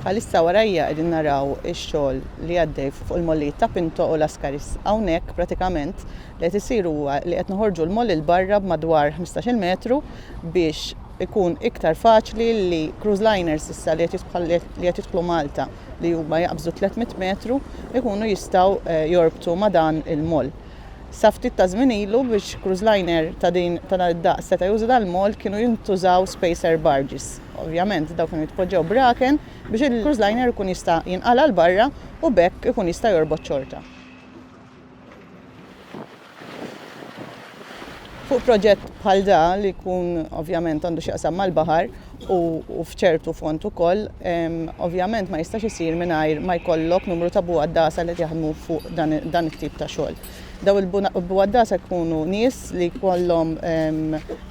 Bħalissa warajja qegħdin naraw ix-xogħol li għaddej fuq il-mollijiet ta' Pinto u Las Caris. Hawnhekk pratikament li qed isir huwa li qed noħorġu l-moll 'il barra b'madwar ħmistax-il metru biex ikun iktar faċli li cruise liners issa li qed jidħlu Malta li huma jaqbżu tliet mitt metru jkunu jistgħu jorbtu ma' dan il-moll. Sa ftit ta' żmien ilu, biex cruise liner ta' din ta' dan id-daqs seta' juża dal-moll kienu jintużaw spacer barges. Ovvjament dawn kienu jitpoġġew braken biex il-cruise liner ikun jista' jinqala' 'l barra u b'hekk ikun jista' jorbot xorta. Fuq proġett bħal da li jkun ovvjament għandu x'jaqsam mal-baħar, u f'ċertu fond ukoll, ovvjament ma jistax isir mingħajr ma jkollok numru ta' buwaddasa li qed jaħdmu fuq dan it-tip ta' xogħol. Daw il-buwaddasa jkunu nies li jkollhom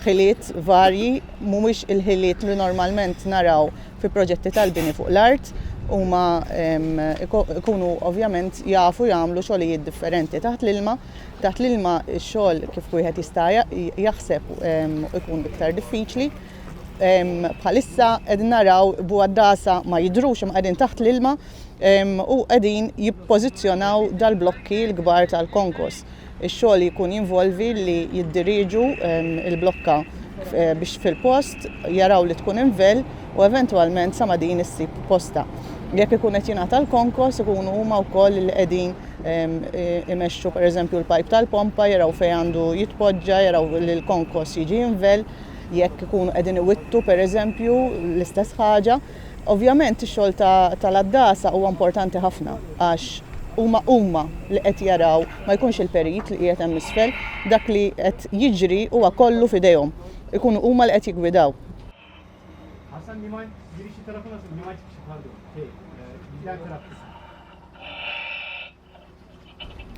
ħiliet varji, mhumiex il-ħiliet li normalment naraw fi proġetti tal-bini fuq l-art, huma jkunu ovvjament jafu jagħmlu xogħlijiet differenti taħt l-ilma, taħt l-ilma x-xogħol kif wieħed jista' jaħseb ikun iktar diffiċli. Bħalissa qegħdin naraw buaddasa ma jidrux imma qegħdin taħt l-ilma u qegħdin jippożizzjonaw dal-blokki l-kbar tal-konkos. Ix-xogħol jkun jinvolvi li jiddiriġu il-blokka eh, biex fil-post jaraw li tkun invel u eventwalment sa ma din issib posta. Jekk ikun qed jingħata l-konkos ikunu huma wkoll li qegħdin eh, imexxu pereżempju l-pajp tal-pompa jaraw fejn għandu jitpoġġa, jaraw li l-konkos jiġi invel jekk ikunu qegħdin iwittu pereżempju l-istess ħaġa. Ovvjament ix-xogħol tal-għaddasa huwa importanti ħafna għax huma huma li qed jaraw ma jkunx il-perit li qiegħed hemm isfel, dak li qed jiġri huwa kollu f'idejhom. Ikunu huma li qed jiggwidaw.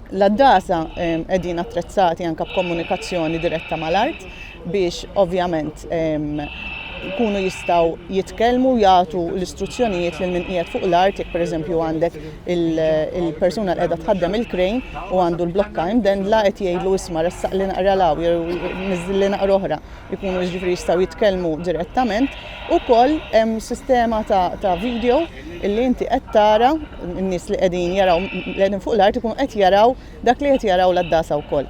L-għaddasa qegħdin attrezzati anke b'komunikazzjoni diretta mal-art biex ovvjament jkunu jistgħu jitkellmu jagħtu l-istruzzjonijiet lil min qiegħed fuq l-art jekk pereżempju għandek il-persuna li qiegħda tħaddem il-krejn u għandu l-blokka imdendla qed jgħidlu isma' ressaq li naqra law jew niżżil li naqra oħra jkunu jiġifieri jistgħu jitkellmu direttament ukoll hemm sistema ta' video illi inti qed tara n-nies li qegħdin jaraw li qegħdin fuq l-art ikun qed jaraw dak li qed jaraw l-għaddasa wkoll.